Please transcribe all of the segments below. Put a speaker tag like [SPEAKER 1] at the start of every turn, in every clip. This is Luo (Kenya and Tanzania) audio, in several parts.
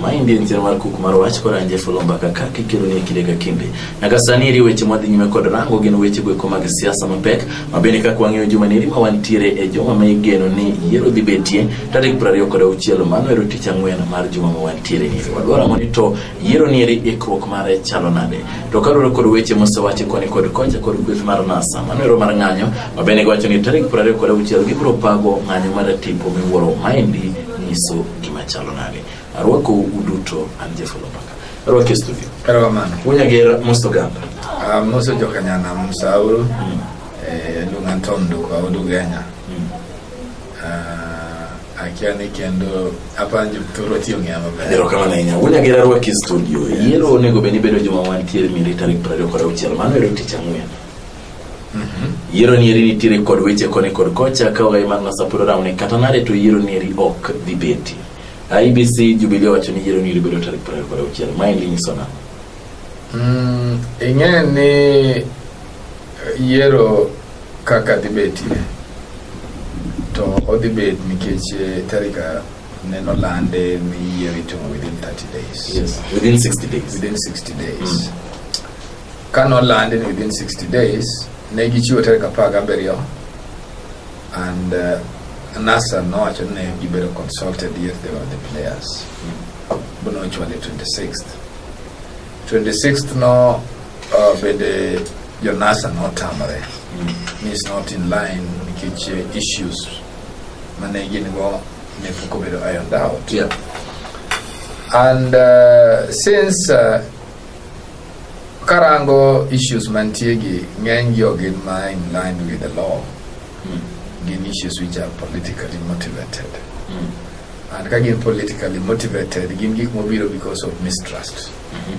[SPEAKER 1] ma endi en chenro mar kuk mar wach koranje fulu mbaka ka kikelo ni kinde ka kinde nyaka sani eri weche mwadhi nyime kod rango gin weche goeko mag siasa mapek ma bende kaka wang'eyo juma neri ma wantiere e juma ma igeno ni yiero dhi betie tarik piero ariyo kod auchiel mano ero tich ang'wen mar juma ma wantiere ni wadwaro mondo to yiero ni eri ikruok mare chalo nade to kaluwore kod weche mosewachi koni kod kocha kod kweth mar nasa mano ero mar ng'anyo ma bende giwacho ni tarik piero ariyo kod auchiel gibiro pago ng'anyo mar tipo miwuoro ma endi nyiso gima chalo nade arwako uduto an jefolo mbaka arwako e studio erokamano unyager most oganda Ah, mose jokanyana msauru Mm. eh, lunga tom duka odugenya Mm. Ah, akia ni kendo apa jopturo tiyo ng'eya maber erokamano ahinya unyager arwako e studio yiero onego bed ni bedo juma wantiere miri tarik prariyo kod auchiel mano ero tich ang'wen yiero ni eri nitiere kod weche koni kod kocha ka ogai mar nasapuro rawne kata nade to yiero ni eri ok dhi beti ibc jubilee owacho ni yiero ni eri bedo tarik prariyo kod auchiel maendi nyiso nang'o Mm, ing'e ni eh, yiero kaka dhi betie to odhi bet nikech eh, tarik ah, neno lande ni yiero itimo within 30 days yes within 60 days within 60 days Ka nolandi ni within 60 days, ne gichiwo tarik apar gabiriyo and uh, NASA nowacho ni ne gibedo consulted yet they were the players. But no actually 26th. 26th no uh, bende jo NASA notamore ni is not in line nikech uh, issues mane gin go ne pok obedo ironed out. Yeah. And uh, since uh, karango issues mantie gi ng'eny gi ok gin ma in line with the law Mm. gin issues which are politically motivated Mm. and ka gin politically motivated gin gik mobiro because of mistrust Mhm.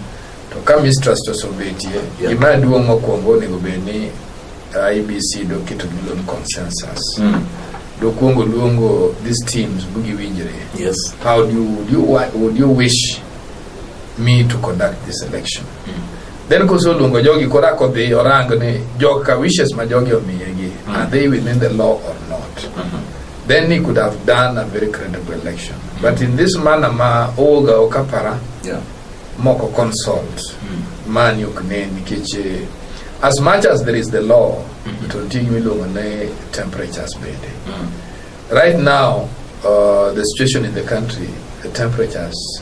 [SPEAKER 1] to ka mistrust osebetie Yeah. gima duong' mokwongo onego bed ni ibc doketo gilo ni consensus Mm. dokwongo luongo these teams bugiwinjre Yes. how do you, would you, wa- would you wish me to conduct this election. Then koso luongo jogi koro ako dhi orang ni joka wishes ma jogi omiyegi Mm. are they within the law or not? Mhm. Then he could have done a very credible election. But in this manner ma owoga okapara Yeah. moko consult Mm. mani ok ne nikech eh, as much as there is the law Mhm. to nitie gima iluongo ni temperatures bende. Mm. Right now uh, the situation in the country the temperatures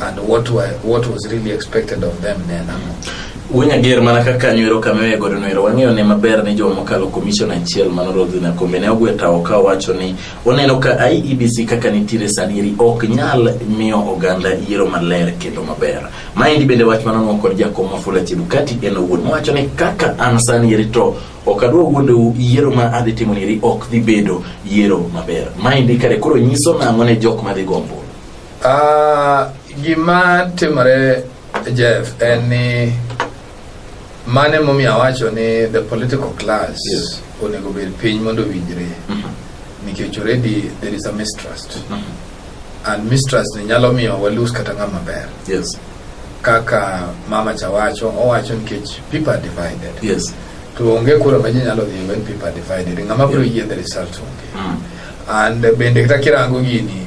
[SPEAKER 1] and what were, what was really expected of them ne en ang'o Wuony Ager mana kaka nywero kama e godo nwero wang'eyo ne maber ni joma mokalo komishon achiel mano Rodhi Nakombe ne ogwe tawo ka owacho ni oneno ka IEBC kaka nitiere sadieri ok nyal miyo oganda yiero maler kendo maber. Maendi bende wach manonwa kod jakom Wafula Chebukati en owuon mowacho ni kaka an sanieri to ok adwa wuondou yiero ma adhi timo nieri ok dhi bedo yiero maber. Maendi kare koro nyiso nang'o ne jok madhi gombo Ah, gima timore Jeff en ni mane momiyo awacho ni the political class Yes. onego bed piny mondo owinjre nikech already there is a mistrust and mistrust ni nyalo miyo walus kata ng'ama ber Yes. kaka mama cha wacho owacho nikech people are divided Yes. to onge kura ma ji nyalo dhi when people are divided ng'ama biro Yeah. yie the result onge Mm. and bende kata kirango gini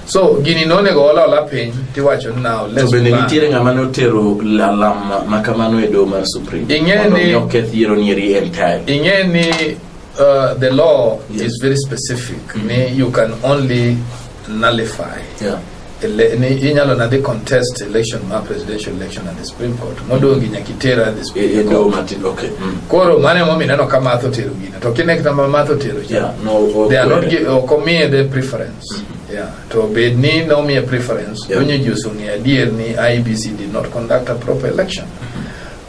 [SPEAKER 1] so gini nonego ol ola piny tiwacho ni now to let's bende move on. nitiere ng'ama notero lalam ma kamano e doho mar supreme Ing'e Mondo ni- mi oketh yiero nieri en time ing'e ni uh, the law Yes. is very specific ni you can only nullify Yeah. ele- ni inyalo na dhi contest election ma presidential election at the supreme court modongi nyakitera at the E- e supreme doho court matindo okay Mm. koro mano emomiyo ineno ka math otero gino to kinekta ma math otero cha Yeah, no, ok they are not were. gi- ok omiye the preference Yeah. To bed ni nomiye preference, Yeah. donyo ji oseng'eyo adier ni IBC did not conduct a proper election.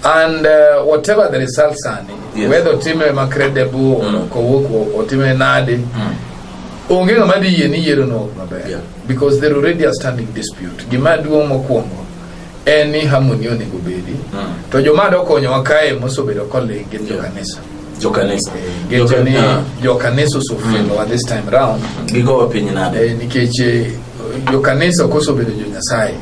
[SPEAKER 1] And uh, whatever the results are, Yes. whether otime ma credible or Mm. kowuok o- otime nade, onge ng'ama dhi yie ni yiero no ok maber Yeah. because there already a standing dispute. Gima duong' mokwongo en ni harmony onego bedi Mm. to joma dokonyowa kae mosebedo koling gin Yeah. jokanisa jokanisa geche ni Ah, jokanisa osefelowa this time round gigowa piny nade Eh, nikech eh, jokanisa ok osebedo jonyasaye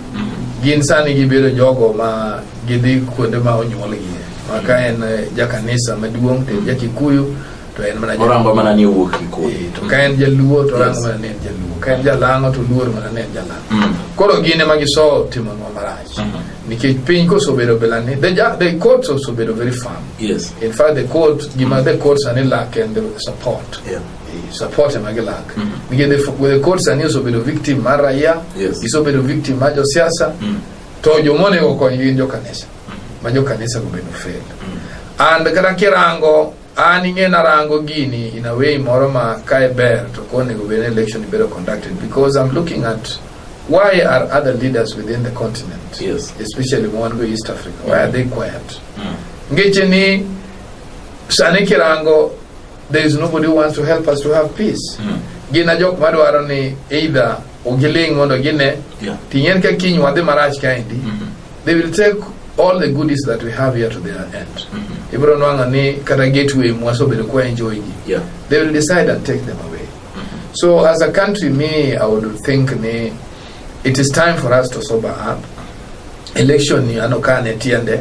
[SPEAKER 1] gin sani gibedo jogo ma gidhi kuonde ma onyuolgie ma ka en eh, jakanisa maduong' to en jakikuyu to en mana orango mana ni owuok gi kodhi Eh, to ka en jaluo to rango mana ni en jaluo ka en jalang'o to luor mana ni en jalang'o Mm. koro gin ema giso timonwa marach Mhm. nikech piny kosobedo bila ni the, ja- the courts osebedo very firm yes in fact the court gima the court sani lack en the support yeah. Eh, support ema gilak Mhm. nikech the, f- the court sani osebedo victim mar raia Yes. gisobedo victim mar josiasa Mm. to jomonego kony gin jokanisa ma jokanisa go bende fail and kata kirango an ing'e narango gini in a way moro ma kae ber to konego bed ni election ibedo conducted because i'm looking at why are other leaders within the continent Yes. especially ma wan go east africa why are they quiet ngeche ni sani kirango there is nobody who wants to help us to have peace gina jok madwaro ni either ok giling' mondo gine Yeah. ting'en ka kiny wadhi marach kaendi Mhm. they will take all the goodies that we have here to their end Mhm. ibiro nwang'o ni kata gateway mwasobedo kwa enjoy gi Yeah. they will decide and take them away so as a country me i would think ni it is time for us to sober up election ni ano ka ne tiende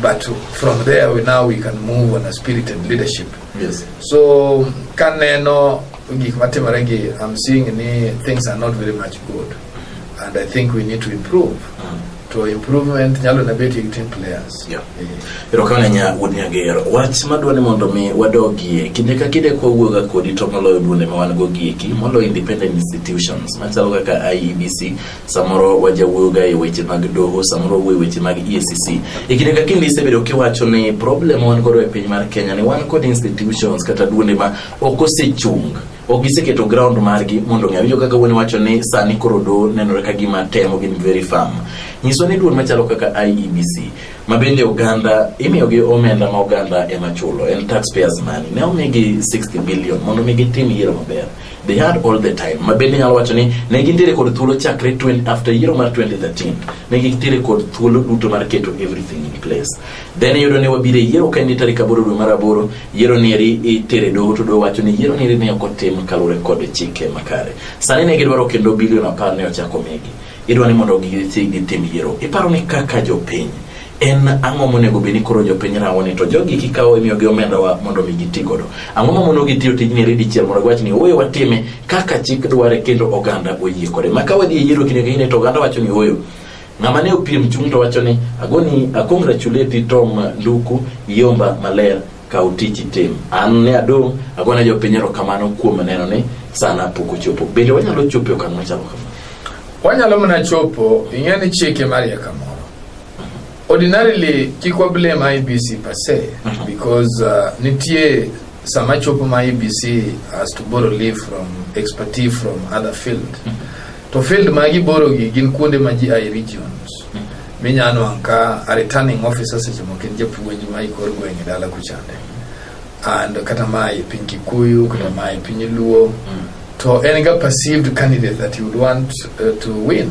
[SPEAKER 1] But from there we now we can move on a spirit and leadership. Yes. So kaneno gik matimore gi I'm seeing ni things are not very much good and I think we need to improve. To improvement nyalo na bet gi team players. Yeah. Eh, erokamano nya wuod nyagero wach madwa ni mondo mi wadogie kinde ka kinde kwa wuoga kodi to moloyo duonde ma wan go gieki moloyo independent institutions machalo kaka iebc samoro wajawuoyoga e weche mag doho samoro wuo e weche mag EACC e kinde ka kinde isebedo kiwacho ni problem wan godo e piny mar Kenya ni wan kod institutions kata duonde ma ok osechung ok giseketo ground margi mondo ng'e winjo kaka wuon wacho ni sani koro do nenore ka gima temo gin very firm nyiso ni duol machalo kaka IEBC ma bende oganda imiyogi omenda ma oganda ema chulo en taxpayers money ne omigi 60 billion mondo mi gitim yiero maber they had all the time ma bende nyalo wacho ni ne gintiere kod thuolo chakre 20 after yiero mar 2013 ne gintiere kod thuolo duto mar keto everything in place then iyudo ni wabiro e yiero ka en tarik aboro dwe mar aboro yiero ni eri itere doho to doho wacho ni yiero ni eri ne ok otim kaluwore kod chike makare sani ne gidwaro kendo bilion apar ne ochako migi idwa ni mondo gidhi gitim yiero iparo ni kaka jopiny en ang'o monego bed ni koro jopiny rango ni to jogi kikawo imiyogi omendawa mondo mi giti godo ang'o mamono gitiyo tijni eri dichiel mondo giwach ni ooyo watime kaka chik dware kendo oganda oyie kode ma ka wadhi e yiero kinde ka kinde to oganda wacho ni ooyo ng'ama ne opiem chung' to wacho ni agoni akongratuleti tom nduku yomba maler kaw tich itim an ne adong' agona jopiny erokamano kuom neno ni sana pok ochopo bende wanyalo chopo e okang' machalo kamano wanyalo mana chopo ing'e ni chike marieka Ordinarily kik wa blame IBC per se Mhm. because uh, nitie sama chopo ma IBC has to borrow leave from expertise from other field. To field ma giboro gi gin kuonde ma ji aye regions. Minya nwang' ka a returning officer seche moko en japuonj ma ikor gweng' e dala kuchande. And kata ma e piny Kikuyu, kata ma e piny Luo. To en ga perceived candidate that you would want uh, to win.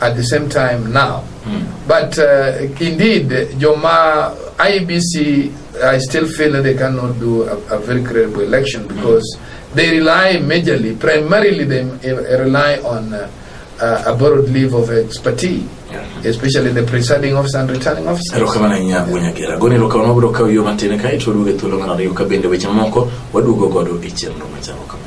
[SPEAKER 1] at the same time now. Mm. But uh, indeed, Joma IBC, I still feel that they cannot do a, a very credible election because mm. they rely majorly, primarily, they rely on uh, uh, a borrowed leave of expertise. especially the presiding officer and returning officer erokamana nya wunyagera goni erokamana wabiro kawo yo matin kae to waduoge thuolo mar ariyo ka bende weche mamoko waduogo godo e chenro machalo kama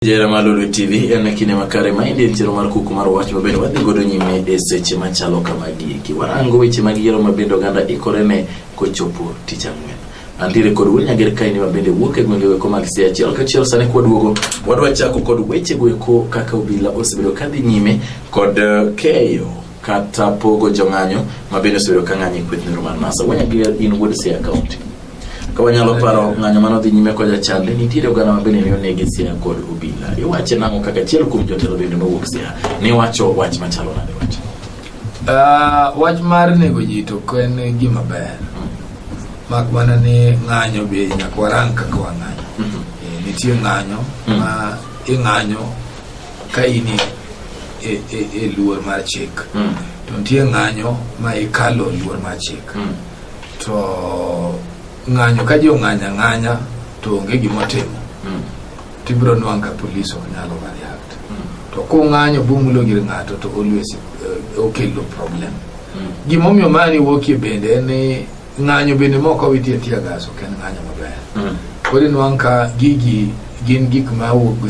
[SPEAKER 1] Jera mar Lulu TV en kinde makare ma indie chero mar kuku mar wach mabende wadhi godo nyime e seche machalo kamagi eki warango weche mag yiero mabende oganda ikore ne kochopo tich ang'wen antiere kod wuod nyager kaini mabende wuok e gwenge weko mag sia achiel kachiel sani kwaduogo wadwa chako kod weche go eko kaka obila osebedo kadhi nyime kod eh, keyo kata pogo jong'anyo ma bende osebedo ka ng'anyo e kweth nero mar nasa wanya gi in wuod siaya kaunti ka wanyalo paro ng'anyo mane odhi nyime koja chande nitiere oganda ma bende ne onegi siaya kod obila iwache nang'o kaka achiel kuom jotelo bende mowuok siaya ne wacho wach machalo nade wach Ah, wach mar nego ji to ok en gima ber mak mana ni ng'anyo be nyaka warang kaka wang'anyo Eh, nitie ng'anyo ma ing'anyo ka in e, e, e, e luor mar chik mm. to nitie ng'anyo ma ikalo luor mar chik mm. to ng'anyo ka ji ong'anya ng'anya to onge gimotimo mm. tibiro nwang' ka polis ok nyalo mariakt mm. to kung'anyo bumulo gir ng'ato to always uh, okelo problem mm. gimomiyo mani wuokie bende en ni ng'anyo bende moko witie tiya gas ok en ng'anyo maber mm. koro inwang' ka gigi gin gik ma wuok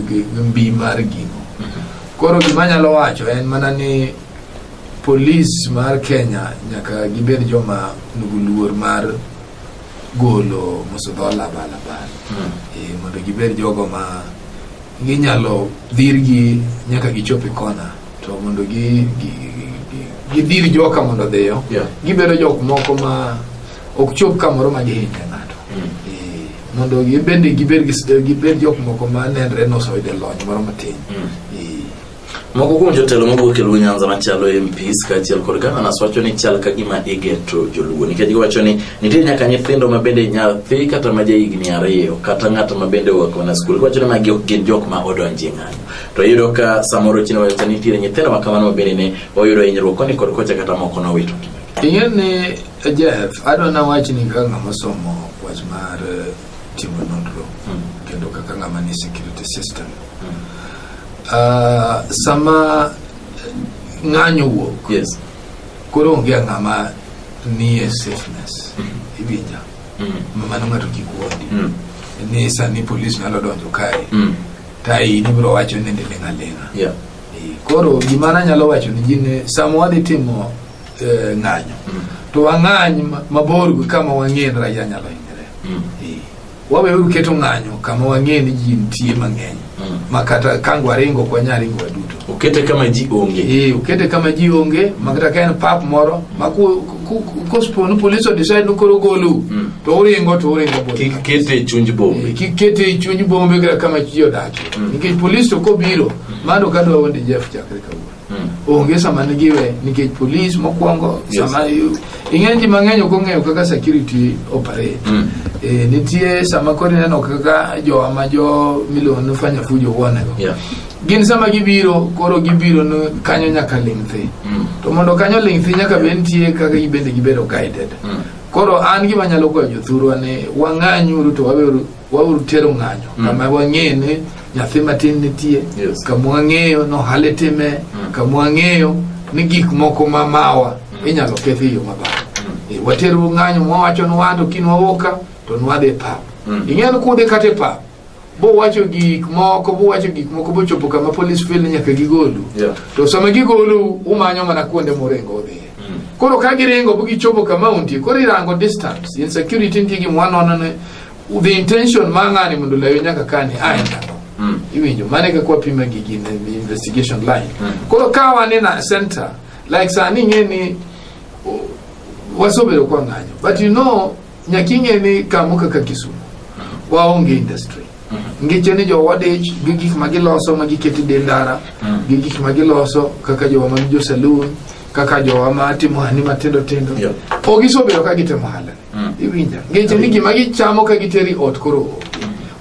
[SPEAKER 1] gi mbi mar gino mm-hmm. koro gima nyalo wacho en mana ni polis mar kenya nyaka gibed joma nugu luor mar golo mosedho labalabal mm. e, mondo gibed jogo ma ginyalo dhirgi nyaka gichop e kona to mondo gi, gi, gi, gidir joka mondo odhiyo Yeah. gibedo jok moko ma ok chop kamoro ma gihinya ng'ato Eh, mondo gibende gibed gi- gibed jok moko ma nenre nosoyude lony moro matin Eh, moko kuom jotelo mawuok e luo nyanza machalo mps kaachiel kod gavanas wacho ni chal ka gima igeto joluo nikech giwacho ni nitie nyaka nyithindo ma bende nyathi kata ma jahigni ariyo kata ng'at ma bende oa kona skul giwacho ni magi ok gin jok ma odonji ng'anyo to iyudo ka samoro chino wayota nitiere nyithindo ma kamano mabende ne oyudo hinyruok koni kod kocha kata moko nowito ing'e ni jeff adwa nawach ni kaka ng'ama osomo wach mar eh, timo nonro hmm. kendo kaka ng'ama ni security system hmm. ah, sama ng'anyo wuok yes. koro onge ng'ama nie safeness hmm. iwinja mm. mano ng'ato kik wuondi mm. ni sani polis nyalo donjo kae mm. ka in ibiro wacho ni niling' aling'a Yeah. Eh, koro gima nanyalo wacho ni ji ne sama wadhi timo eh, ng'anyo Mm. to wang'any ma- mabor gi kama wang'e ni raia nyalo hinyore Mm. Eh, waweuru keto ng'anyo kama wang'e ni ji nitie mang'eny Mm. ma kata kango waringo ok wanyal ringo waduto Okete kama ji onge. Eh, ukete kama ji onge ma kata ka en pap moro ma ku- Ku- ku- kospo ni police odecide ni koro golu Mm. to uringo to uringo bot kik kete e chuny bombe kik kete e chuny bombe kata kama ji odakie Mm. nikech polis to kobiro mano ka dwa wende jeff chakre kawuono Mm. onge sama nigiwe nikech polis mokwongo Yes. sama yu- ing'e ji mang'eny ok ong'eyo kaka security operate Mm. Eh, nitie sama koro ineno kaka jowa ma jo miluongo ni fanya fujo wuonego Yeah. gin sama gibiro koro gibiro no- kanyo nyaka ling' thi Mm. to mondo kanyo ling' thi nyaka be nitie kaka gibende gibedo guided Mm. koro an gima nyalo kwayo jothurwa ni wang'anyuru to waweuru- wauru tero ng'anyo Mm. kama wang'eyo ni nyathi matin nitie Yes. kama wang'eyo ni ohala itime Mm. kama wang'eyo ni gik moko ma mawa Mm. inyalo kethi e yo maber Eh, wateru ng'anyo mwawacho ni wan to kin wawoka to nwadhi e pap Mm. ing'eyo ni kudhi kata e pap buwacho gik moko buwacho gik moko bochopo kama police feel ni nyaka gigolu Yeah. to sama gigolu umanyo mana kuonde muringo udhiye Mm. koro ka giringo bo gichopo kama untie koro irango distance in security nitie gimwa nono ne the intention ma ng'ani mondo layo nyaka kani ae ndalo Mm. iwinjo mane kaka wapima gigi in the investigation line Mm. koro ka wan in a center like sani ing'e ni o- wasobedo kwa ng'anyo but you know nyaka ing'e ni kamo kaka kisumu waonge industry ngeche ni jowa dich gi gik ma giloso ma giketi de ndara gi gik ma giloso kaka jowa mag jo saloon kaka jowa ma timo hani matindo tindo Yeah. ok isobedo ka gitimo hala iwinja ngeche ni gima gichamo ka giteri ot koro onge.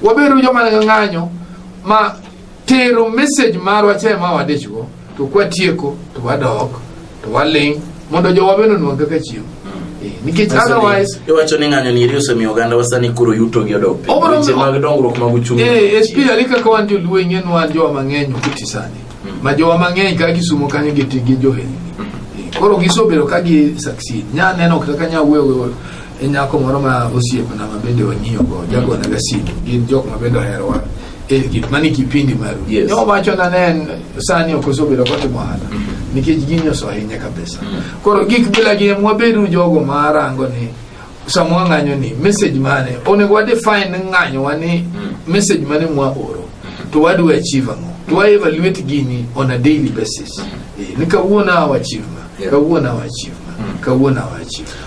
[SPEAKER 1] wabedo joma ng'anyo ma tero message marwa cha ma wadichgo to kwatieko to wadok to waling mondo jowa bende onwang kaka chiemo Eh, nikech otherwise iwacho ni ng'anyo niri osemiyo oganda wasani koro yuto gi odok piny. Obro- Weche mag dongruok mag uchumi eh, especially kaka wan joluo ing'en wan jowa mang'eny okuti sani ma jowa mang'eny ka gisumo kanyo giti gi johelni Eh, koro gisobedo ka gi succeed nya neno kaka nya wewe e nyako moro ma osiepna ma bende wang'iyo go jagona ga simu gin jok ma bende oherowa e gik mani kipindi maru Yes. ne owacho na ne en sani ok osebedo kotimo ohala nikech gini osehinye kabisa koro gik bila gi em wabedu jogo marango ni sama wang'anyo ni message mane onego wa define ng'anyowa ni message mane mwaoro to wadwa achieve ang'o to wa evaluate gini on a daily basis Eh, ni kawuono awa achieve ma Yes. kawuono awa achieve ma kawuono awa achieve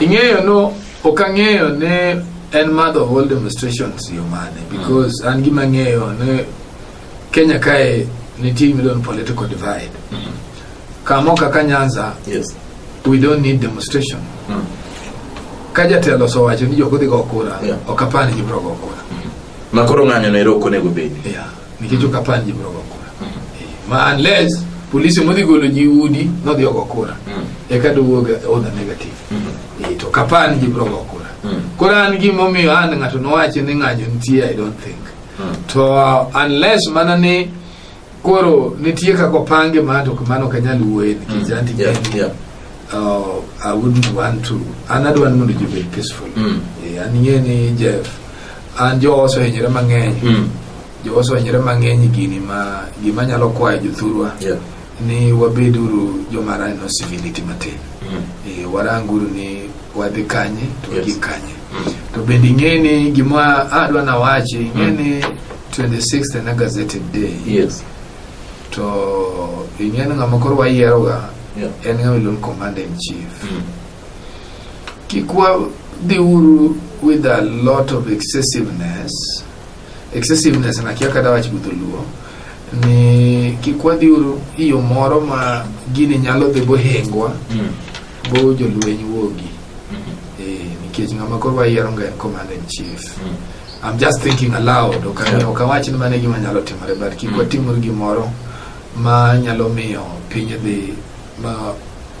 [SPEAKER 1] ing'eyo no ok ang'eyo ne en madho whole demonstrations yo mane because an gima ang'eyo ne kenya kae nitie gimiluongo ni political divide kamo kaka nyanza Yes. we don't need demonstration Mm. ka jatelo osewacho ni jok odhi go kura Yeah. ok apar ni gibiro go kura Ma koro ng'anyo no ero ok onego obedi. yeah. nikech ok apar ji biro go kura Eh, ma unless polisi modhi golo ji udi nodhi ogo kura eka dowuog odha negative Eh, to kapar ni ji biro go kura koro an gimomiyo an ng'ato nowachi ni ng'anyo nitie i don't think to uh, unless mana ni koro nitie kaka opange ma to mano ok anyal wuoye nikech anti Yeah, yeah. uh, i wouldn't want to an adwa ni mondo ji obed peaceful Mm. Eh, an ing'e ni jeff an jowa osehinyore mang'eny Mm. jowa osehinyore mang'eny e gini ma gima nyalo kwayo jothurwa Yeah. ni wabeduru joma raneno civility matin Mm. e, waranguru ni wadhi kanye to Yes. wagik kanye Mm. to bende ing'e ni gima adwa nawachi ing'e Mm. ni 26 en a gazetted day Yes. to ing'e ni ng'ama koro wayieroga Yeah. en ng'ama iluongo commander in chief Mm. Kik wadhi uru with a lot of excessiveness. Excessiveness na kia kata wach gudholuo ni kik wadhi uru iyo moro ma gini nyalo dhi bohengwa mm. bo jolweny wuogi mm-hmm. eh, nikech ng'ama koro wayiero nga en commander in chief mm. I'm just thinking aloud ok awach ni mano e gima nyalo timore but kik mm. watimuru gimoro ma nyalo miyo piny dhi ma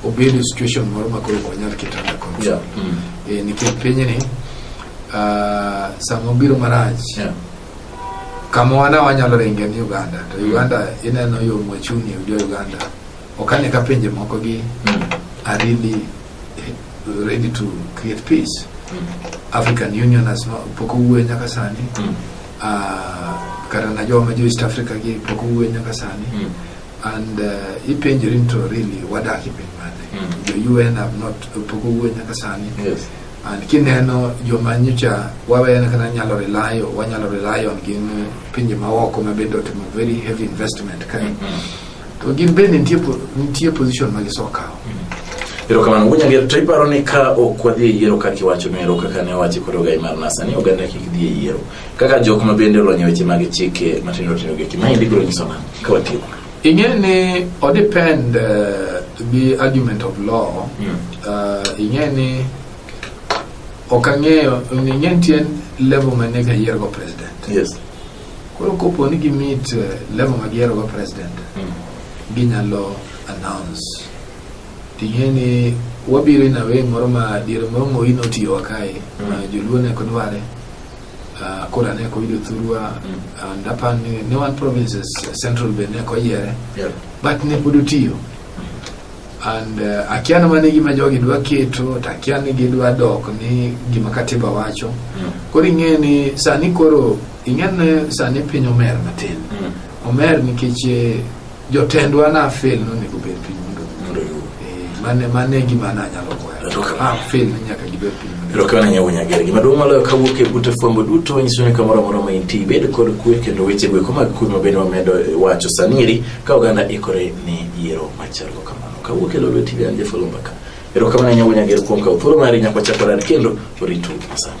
[SPEAKER 1] obed e situation moro ma koro wanyal keto under control Yeah. Mm. Eh, nikech pinyni ah, sama obiro marach Yeah. kama wana wanyalo ringe ni uganda to uganda ineno yo mwachuni jo uganda okane ka pinje moko gi Mm. are really eh, ready to create peace african union has not pok owuoyo nyaka sani Mm. Ah, kata na joma jo east africa gi pok owuoyo nyaka sani Mm. and uh, ipenjori ni to really wadak e piny mane Mm. jo un have not pok owuo nyaka sani Yes. and kineno joma nyocha wawene kata nyalo rely on- wanyalo rely on gin uh, pinje maoko ma bende otimo very heavy investment kae Mm. to gin bende nitie po- nitie position ma gisokawo erokamano wuonya ger to iparo ni ka ok wadhi e yiero kaka iwacho no ero kaka ne owachi kod ogai mar nasa ni oganda kik dhi e yiero kaka jok ma bende olony e weche mag chike matindo tindo gi ma indi biro nyiso nang' ka watieko ing'e ni odepend uh, eh, gi argument of law mm. uh, ing'e ni ok ang'eyo ing'e nitie level ma ne gayiergo president yes. koro kopo ni gimit uh, eh, level ma giyiergo president mm. ginyalo announce ting'e ni wabiro inawe moro ma diere moro moyi notiyowa kae mm. ma joluo ne kodware Ah, koro ane ko yudo thurua and apa ni ne wan provinces eh, central be ne ko yiere Yeah. but ne pod otiyo and uh, akia na mane gima jogi dwa keto to akia ni gidwa dok ni gima katiba wacho Mm. koro ing'e ni sani koro ing'e ni sani piny omer matin Mm. omer nikech eh, jotendwa na fail nonego bed piny mondo mondo yud eh, mane mane gima na nyalo kwayo Erokamano. ah fail ni nyaka gibed piny mondo erokamano nyawo nyagere gima duong' moloyo kawuok e buta fwambo duto wanyiso ni kamoro amora ma intie ibed kod kwe kendo weche go eko mag kwe ma bende wamedo eh, wacho saniri ka oganda ikore ni yiero machalgo kamano kawuok e lolo tv an jafolo mbaka erokamano nyawo nyagere kuom kawo thuolo mari nyaka wachak warad kendo oritu masani